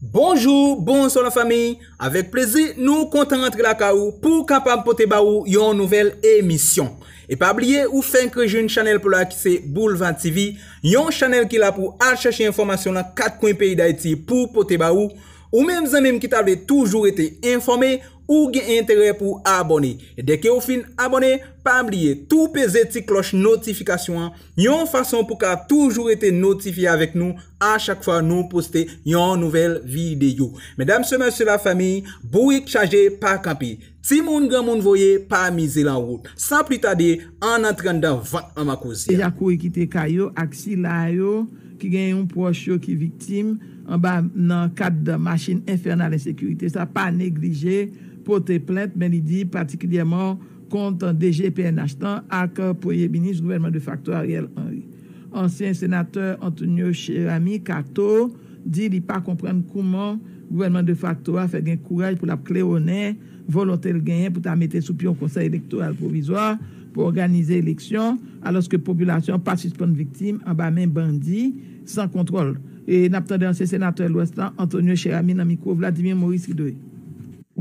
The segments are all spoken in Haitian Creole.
Bonjou, bonswa la fanmi, avèk plezi nou kontan rantre lakay ou pou kapab pote ba ou yon nouvèl emisyon. E pa bliye ou fenk rejwenn chanèl pou la ki se Boulva TV, yon chanèl ki la pou al chache enfòmasyon nan kat kwen peyi Dayiti pou pote ba ou, ou menm zanmi m ki ta vle toujou rete enfòme, Ou gen enterè pou w abòne. Dèke ou fin abòne, pa bliye tou peze ti klòch notifikasyon an yon fason pou ka toujou rete notifye avèk nou a chak fwa nou poste yon nouvèl videyo. Medam se mesye la fanmi, bourik chaje pa kanpe. Timoun granmoun voye pa mize lan wout. San pli tade, ann antre anndan vant manman koze a. Ejakoe kite kay yo ak sila yo. ki gen yon pwòch yo ki viktim anba nan kad machin enfènal ensekirite sa, pa neglije pote plent, men li di patikilyèman kont DG pnh lan ak Premye Minis gouvènman defakto Ariel Henry. Ansyen senatè Antonio Cheramy Cato di li pa konprann kouman gouvènman defakto a fè gen kouraj pou l ap klewonnen volonte l genyen pou ta mete sou pye yon Konsèy Elektoral Pwovizwa pou òganize eleksyon, alòske popilasyon pa sispann viktim anba men bandi san kontwòl. N ap tande ansyen senatè Lwès lan, Antonio Cheramy nan mikwo Vladimir Maurice Hideux.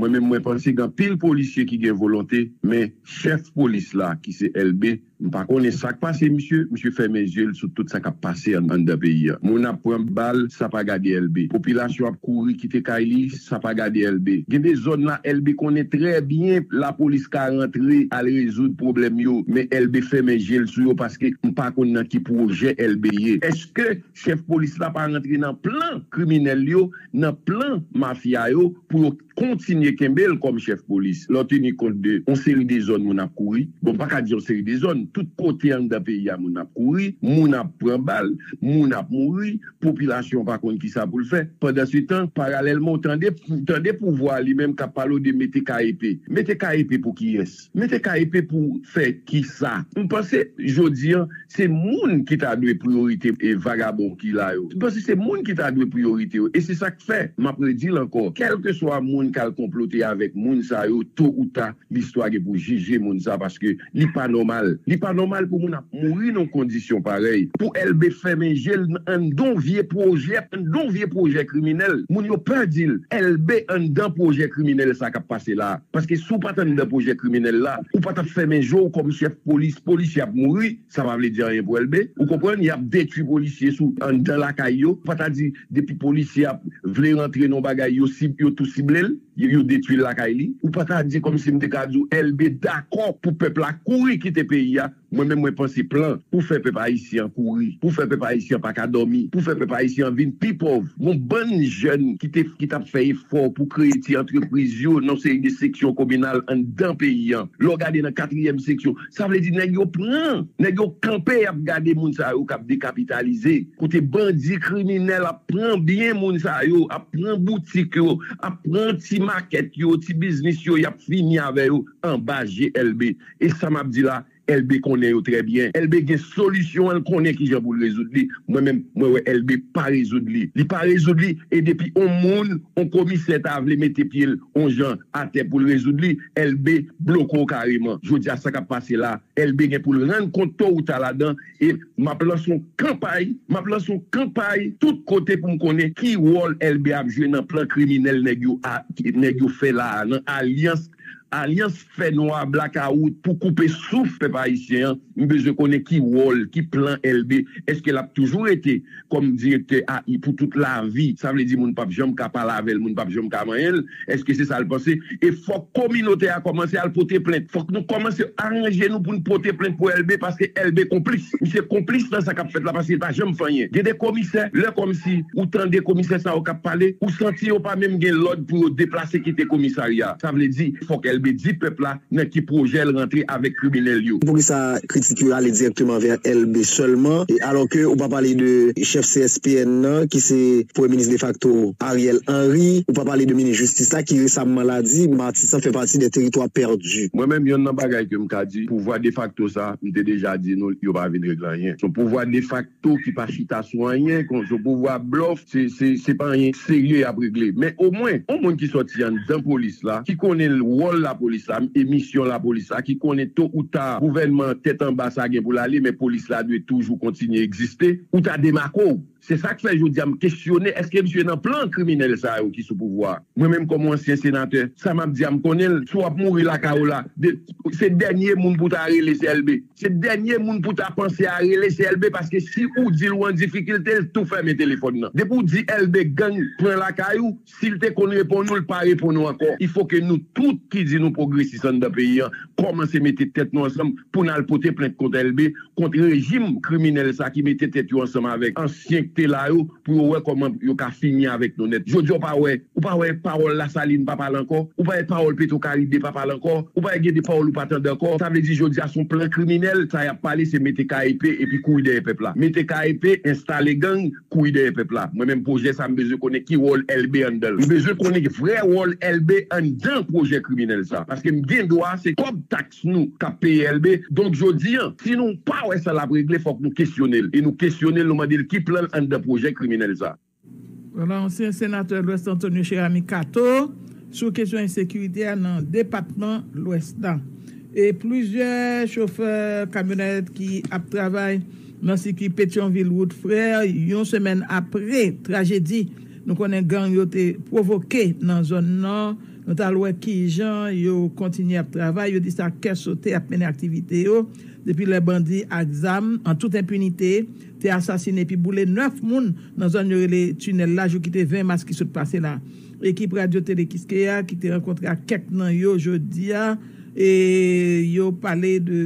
Mwen menm mwen panse gen anpil polisye ki gen volonte men chèf polis la ki se Elbe m pa konnen sak pase misye, misye fèmen zye l sou tout sa k ap pase anndan peyi an. Moun ap pran bal sa pa gade Elbe. Popilasyon ap kouri kite kay li. Sa pa gade Elbe. Gen de zòn la Elbe konnen trè byen lapolis ka rantre al rezoud pwoblèm yo men Elbe fèmen je l sou yo paske m pa konn nan ki pwojè Elbe ye. Eske chèf polis la pa rantre nan plan kriminèl yo, nan plan mafya yo pou yo kontinye kenbe l kòm chèf polis lè w teni kont de yon seri de zòn moun ap kouri? Bon m pa ka di yon seri de zòn, tout kote anndan peyi a moun ap kouri, moun ap pran bal, moun ap mouri. Popilasyon pa konn kisa pou l fè. Pandansetan, paralèlman, w tande pouvwa a li menm k ap pale w de mete KEP. Mete KEP pou kiyès? Mete KEP pou fè kisa? M panse jodi an, se moun ki ta dwe priyorite vagabon ki la yo. M panse se moun ki ta dwe priyorite yo. E se sa k fè, m ap redi l ankò, kèlkeswa moun k al konplote avèk moun sa yo, to ou ta, Listwa gen pou jije moun sa paske li pa nòmal. Li pa nòmal pou moun ap mouri nan kondisyon parèy. Pou Elbe fèmen je l nan anndan vye pwojè anndan vye pwojè kriminèl. Moun yo pè di l, Elbe anndan pwojè kriminèl sa k ap pase la. Paske si w pa t anndan pwojè kriminèl la, ou pa t ap fèmen je w kòm chèf polis. Polisye ap mouri. Sa pa vle di anyen pou Elbe. Ou konprann? Y ap detwi polisye sou anndan lakay yo. Pa ta di depi polisye a vle rantre nan yon bagay yo sib, yo tou sible l, yo detwi l lakay li. Ou pa ta di kòm si m te ka di w Elbe dakò pou pèp la kouri kite peyi a. Mwen menm mwen panse plan pou fè pèp ayisyen an kouri, pou fè pèp ayisyen an pa ka dòmi, pou fè pèp ayisyen an vin pi pòv. Gon bann jèn ki te, ki t ap fè efò pou kreye ti antrepriz yo nan yon seri de seksyon kominal anndan peyi an. Lè w gade nan katriyèm seksyon. Sa vle di nèg yo pran, nèg yo kanpe yap gade moun sa yo kap dekapitalize, kote bandi kriminèl ap pran byen moun sa yo, ap pran boutik yo, ap pran ti makèt yo, ti biznis yo yap fini avè yo anba je Elbe. E sa map di la Elbe konnen yo trè byen. Elbe gen solisyon an, l konnen kijan poul rezoud li, mwen menm mwen wè Elbe pa rezoud li, li pa rezoud li e depi on moun, on komisè ta vle mete pyel on jan atè poul rezoud li, Elbe bloke w kareman. Jodi a sa k ap pase la, Elbe gen pou l rann kont to ou ta ladan e m ap lanse yon kanpay, m ap lanse yon kanpay tout kote pou m konnen ki wòl Elbe ap jwe nan plan kriminèl nèg yo a, nèg yo fè la a, nan alyans, alyans fè nwa, blakawout pou koupe souf pèp ayisyen an. M bezwen konnen ki wòl, ki plan Elbe. Eske l ap toujou rete? kòm direktè a i pou tout lavi, sa vle di moun pap janm ka pale avè l, moun pap janm ka manyen l, èske se sa l panse? E fòk kominote a kòmanse al pote plent. Fòk nou kòmanse aranje nou pou n pote plent pou Elbe paske Elbe konplis. Misye konplis nan sa k ap fèt la paske l pa janm fè anyen. Gen de komisè, lè kòmsi ou tande komisè sa yo k ap pale, ou santi yo pa menm gen lòd pou yo deplase kite komisarya a. Sa vle di fòk Elbe di pèp la Nan ki projè l rantre avèk kriminèl yo? Poukisa kritik yo ale dirèkteman vè Elbe sèlman e alò ke ou pa pale de chèf CSPN nan ki se premye minis defakto Ariel Henry, ou pa pale de minis jistis la ki resamman la di Matisan fè pati dè teritwa pèdi? Mwen menm yonn nan bagay ke m ka di pouvwa defakto sa m te deja di nou yo pa vin regle anyen sou pouvwa defak. to ki pa chita sou anyen kon zo pouvwa blòf se pa anyen serye yap regle men omwen on moun ki sòti anndan polis la ki konnen wòl lapolis la e misyon lapolis la ki konnen to ou ta gouvènman an tèt anba sa gen pou l ale men polis la dwe toujou kontinye egziste ou ta demake w se sak fè jodi a m kesyone èske misye nan plan kriminèl sa yo ki sou pouvwa a mwen menm kòm on ansyen senatè sa map di a m konnen l si w ap mouri lakay w la se dènye moun pou w ta rele se Elbe. Se dènye moun pou ta panse a rele se Elbe paske si ou dil ou an difikilte l tou fèmen telefòn nan. Depi ou di Elbe gang pran lakay ou, sil te konn reponn ou l pa reponn ou ankò. Il faut ke nou tout ki di nou pwogresis anndan peyi an kòmanse mete tèt nou ansanm pou n al pote plent kont Elbe, kont rejim kriminèl sa ki mete tèt yo ansanm avèk ansyen k te la yo. Pou yo wè kòman yo ka fini avèk nou nèt. Jodi a ou pa wè, ou pa wè pawòl Lasalin pa pale ankò, ou pa wè pawòl Petro Caribe pa pale ankò, ou pa wè gen de pawòl ou pa tande ankò. Sa vle di jodi a se yon plan kriminèl, sa y ap pale se mete KEP epi kouri dèyè pèp la. Mete KEP, enstale gang, kouri dèyè pèp la. Mwen menm pwojè sa m bezwen konnen ki wòl Elbe anndan l. M bezwen konnen vrè wòl Elbe anndan pwojè kriminèl sa. Paske m gen dwa se kòb tax fòs nou k ap peye èlbe. Donk jodi an, si nou pa wè sa l ap regle, fòk nou kesyone l. E nou kesyone l, nou mande l ki plan l anndan pwojè kriminèl sa a. Vwala ansyen senatè Lwès Antonio Cheramy Cato sou kesyon ensekirite a nan depatman Lwès la. E plizyè chofè kamyonèt ki ap travay nan sikui Petyonvil Wout Frè yon semèn apre trajedi nou konnen gang yo te pwovoke nan zòn nan, Nou t al wè ki jan yo kontinye ap travay, yo di se ak kè sote y ap mennen aktivite yo depi lè bandi ak zam an tout enpinite te asasine epi boule 9 moun nan zòn yo rele Tinèl la jou ki te 20 mas ki sot pase la. Ekip Radyo Tele Kiskeya ki te rankontre ak kèk nan yo jodi a e yo pale de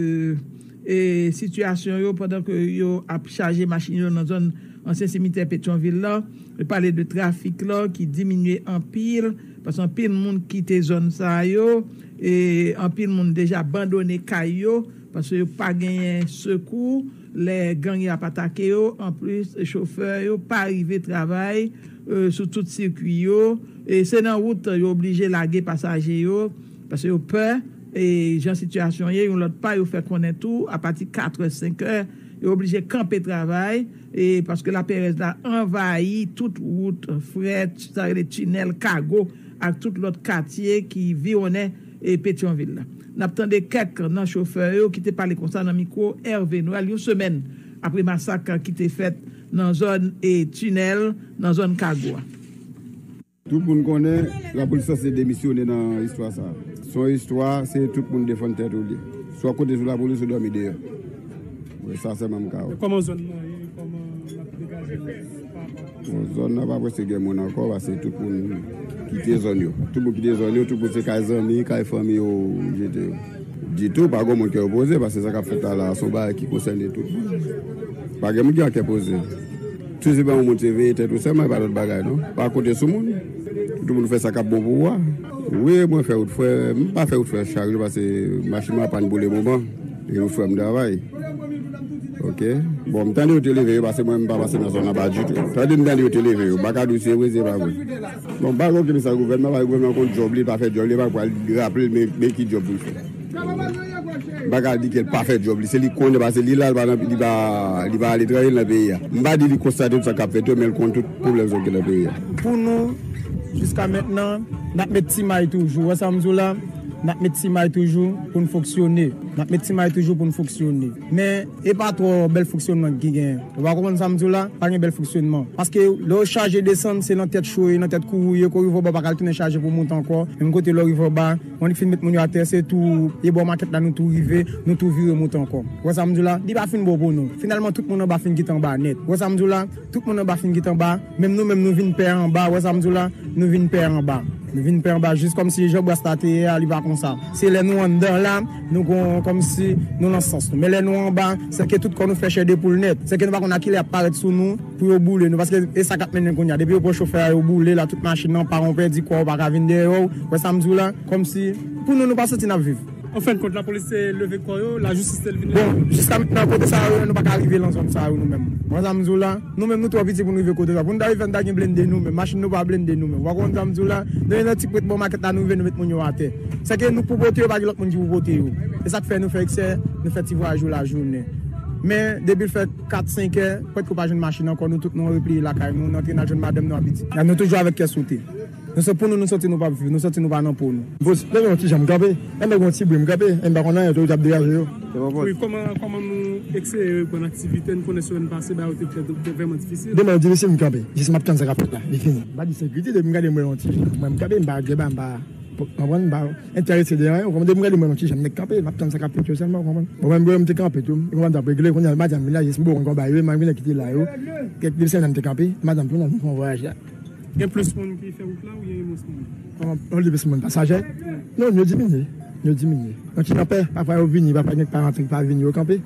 e sitiyasyon yo pandan ke yo ap chaje machin yo nan zòn ansyen simitè Petyonvil la e pale de trafik la ki diminye anpil. Paske anpil moun kite zòn sa yo, e anpil moun deja bandone kay yo, paske yo pa genyen sekou lè gang yo ap atake yo, anplis chofè yo pa rive travay sou tout sikwi yo, e se nan wout yo oblije lage pasaje yo, paske yo pè, e jan sitiyasyon ye, yon lòt pa yo fè konnen tou apati katrè senkè yo oblije kanpe travay. Paske laperèz la anvayi tout wout frè, sa rele tinèl, kago ak tout lòt katye ki viwonnen Petyonvil la. N ap tande kèk nan chofè yo ki te pale konsa nan mikwo Hervé Noël yon semèn apre masak ki te fèt nan zòn tinèl, nan zòn kago a. Tout moun konnen lapolis sanse demisyone nan istwa sa. Se yon istwa se tout moun defann tèt ou li. Si w ap konte sou lapolis ou dòmi deyò. Mwen sa sèlman m ka wè. Kòman zòn nan ye? Kòman n ap degaje l pa rapò ak lapolis? Zòn nan pa prèske gen moun ankò pase tout moun kite zòn yo. Tout moun kite zòn yo, tout moun se kay zanmi, kay fanmi yo jete yo. Ditou pa gen moun kè yo poze pase sa k ap fèt la la a se yon bagay ki konsène tout moun. Pa gen moun ki an kè poze. Sezi ban ou moun se veye tèt ou sèlman e pa lòt bagay non. Pa konte sou moun. Pou tout moun fè sa k ap bon pou ou a. Wi mwen fè wout frè. M pa fè wout frè chak jou pase machin mwen an pàn pou le moman. E wout frè m travay. Ok. Bon m tande yo te leve yo pase mwen m pa pase nan zòn anba ditou. Tande m tande yo te leve yo. M pa ka di w se vre se pa vre. Bon m pa gen okenn mesaj gouvènman paske gouvènman konn djòb li, li pa fè djòb li, li pa pral raple l men ki djòb pou l fè. Baka di kel pa fè job li, se li konnen pase li la li pa nan li pa li pa aletranje li nan peyi a. M pa di li konstate tout sa kap fèt yo men li konn tout pwoblèm sa yo ki nan peyi a. Pou nou jiska mentnan nap met ti may toujou ou wè sam di w la nap met ti may toujou poun fonksyone nap met ti may toujou poun fonksyone men e pa twò bèl fonksyonman ki gen ou pa konprann sam di w la pa gen bèl fonksyonman paske lè yo chaje desann se nan tèt cho ye nan tèt kouwou ye kou rive oba ou paka retounen chaje pou mount ankò menm kote lè w rive oba Bon li fin met moun yo atè se tou e bò makèt la nou tou rive, nou tou vire moute ankò. Ou wè sa m di w la? Li pa fin bon pou nou. Finalman tout moun anba fin git anba nèt. Ou wè sa m di w la? Tout moun anba fin git anba, menm nou menm nou vin pè anba, ou wè sa m di w la? Nou vin pè anba. Nou vin pè anba jis kòmsi jan bras la te ye a li pa konsa. Se lè nou anndan la nou gon kòmsi nou lan sans nou. Men lè nou anba, sèke tout kò nou fè chè de poul nèt. Sèke nou pa konn a kilè y ap parèt sou nou. Pou yo boule nou paske e sa kap mennen kounya depi yo pran chofè a yo boule la tout machin nan pa ou pèdi kòw ou paka vin dèyèw wè sam diw la kòmsi pou nou nou pa santi nap viv. Anfen kont la polis te leve kò yo la jistis te lvin leve. Bon jiska mentnan kote sa yo ye nou paka rive lan zòn sa yo nou menm wè sam diw la nou menm nou twò piti poun rive kote sa poun ta rive nou ta gen blende nou menm machin nou pa blende nou menm wa konprann sam diw la nou ye nan ti pwent bò makèt la nou rive nou met moun yo atè sèke nou k pou pote yo pa gen lòt moun ki pou pote yo esak fè nou fè eksè nou fè ti vwayaj yo lajounen men depil fè 4, 5 è, pwèt ke w pa jwenn machin ankò, nou tout nou repliye lakay nou, nou antre nal jwenn madanm nou ak pitit. Nou toujou avèk kè sote. Nou se pou nou nou soti nou pap viv, nou soti nou pa nan po nou. Bos, lè gen yon ti jan m kanpe, lè m wè gen yon ti bri m kanpe, e m pa konn anyen, otorite ap degaje yo. Wi, kòman nou eseye reprann aktivite n, konnen semèn pase bagay yo te vrèman difisil. Demen yo difisil m kanpe, jis m ap tann sa k ap fèt la, li fini. M pa di sekirite, depi m gade m wè yon ti jan, m wè m kanpe, m pa geba, m pa konprann, m pa. entèrese de anyen ou konprann depi m gade mwen menm kijan m nèk kanpe map tann sa kap fèt yo sèlman ou konprann bon menm bouyon m te kanpe tou ou konprann tap regle kounye a madanm vin la jes m bouyon konba yo malgre nèg ki te la yo kèk de sèlman m te kanpe madanm tou nan vin fon vwayaj la. Gen plis moun ki fè wout la oubyen gen mwens moun? Yon de plis moun pasajè non yo diminye yo diminye nan ki kanpè pafwa yo vini pafwa gen k pa rantre k pa vini yo kanpe.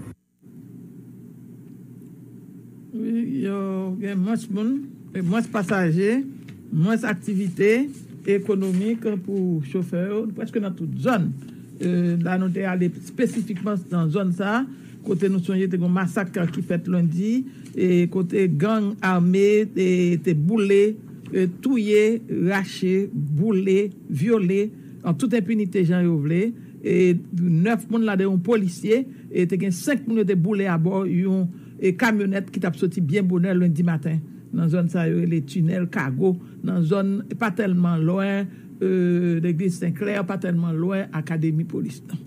Yo gen mwens moun, mwens pasaje, mwens aktivite ekonomik pou chofè yo prèske nan tout zòn. La nou te ale espesifikman nan zòn sa a, kote nou sonje te gen yon masak ki fèt lendi, kote gang ame te boule, touye, rache, boule, vyole. An tout enpinite jan yo vle, 9 moun ladan yon polisye, te gen 5 moun yo te boule abò yon kamyonèt ki tap soti byen bonè lendi maten nan zòn sa yo rele Tinèl Kago nan zòn pa tèlman lwen legliz Senklè, pa tèlman lwen akademi polis nan.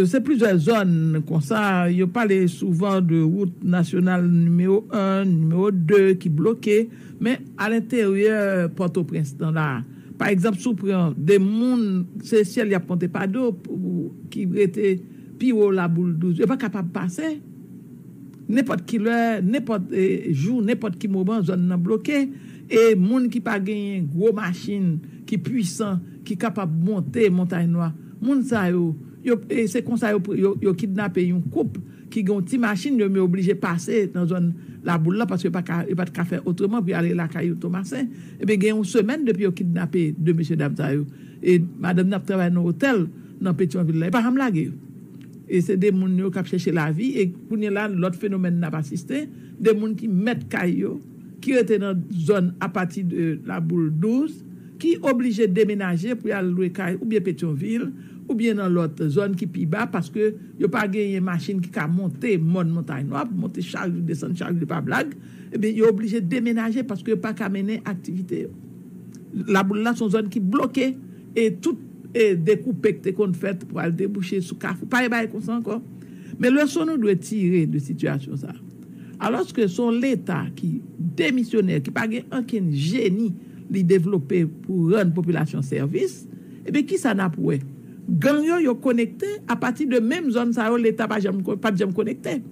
Se plizyè zòn konsa, yo pale souvan de wout nasyonal nimewo 1, nimewo 2 ki bloke, men alenteryè Pòtoprens nan la a. Pa egzanp, si w pran 2 moun, se syèl y ap konte pa do ki rete pi wo Labouldouz. Yo pa kapab pase. Nenpòt ki lè, nenpòt jou, nenpòt ki moman, zòn nan bloke e moun ki pa genyen gwo machin ki pwisan, ki kapab monte montay nwa moun sa yo yo se konsa yo kidnape yon koup ki gen yon ti machin yo men yo oblije pase nan zòn laboul la paske yo pat ka fè otreman pou yo ale lakay yon tomasen ebyen gen yon semèn depi yo kidnape 2 mesye dam sa yo e madanm nan ap travay nan otèl nan petion vil la yo pa janm lage yo e se 2 moun yo kap chèche lavi e kounye la lòt fenomèn nap asiste 2 moun ki mèt kay yo ki rete nan zòn apati de laboul 12. ki oblije demenaje pou y al lwe kay oubyen Petyonvil oubyen nan lòt zòn ki pi ba paske yo pa genyen machin ki ka monte mòn Montay Nwa pou monte charj, desann charj li pa blag, ebyen yo oblije demenaje paske yo pa ka mennen aktivite yo. Laboul la se yon zòn ki bloke e tout dekoupe ki te konn fèt pou al debouche sou Kafou pa gen bagay konsa ankò. Men leson nou dwe tire de sitiyasyon sa a alòske se yon Leta ki demisyonè ki pa gen ankenn jeni li devlope pou rann popilasyon sèvis, ebyen kisa nap wè? Gang yo yo konekte apati de menm zòn sa yo leta pa janm pat janm konekte.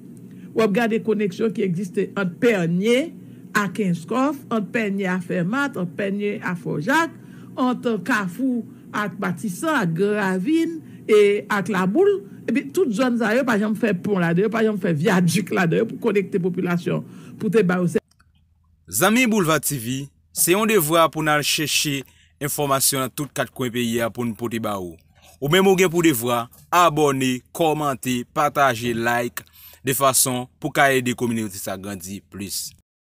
Wap gade koneksyon ki egziste ant Pènye a Kenskòf, ant Pènye a Fèmat, ant Pènye a Fò Jak, ant Kafou ak Matisan, ak Gran Ravin e ak Laboul, ebyen tout zòn sa yo pa janm fè pon ladan yo, pa janm fè vyadik ladan yo pou konekte popilasyon pou te ba yo. Zanmi Boulva TV, se yon devwa pou n al chèche enfòmasyon nan tout kat kwen peyi a pou n pote ba ou. Ou menm ou gen pou devwa abòne, kòmante, pataje, like de fason pou ka ede kominote sa grandi plis.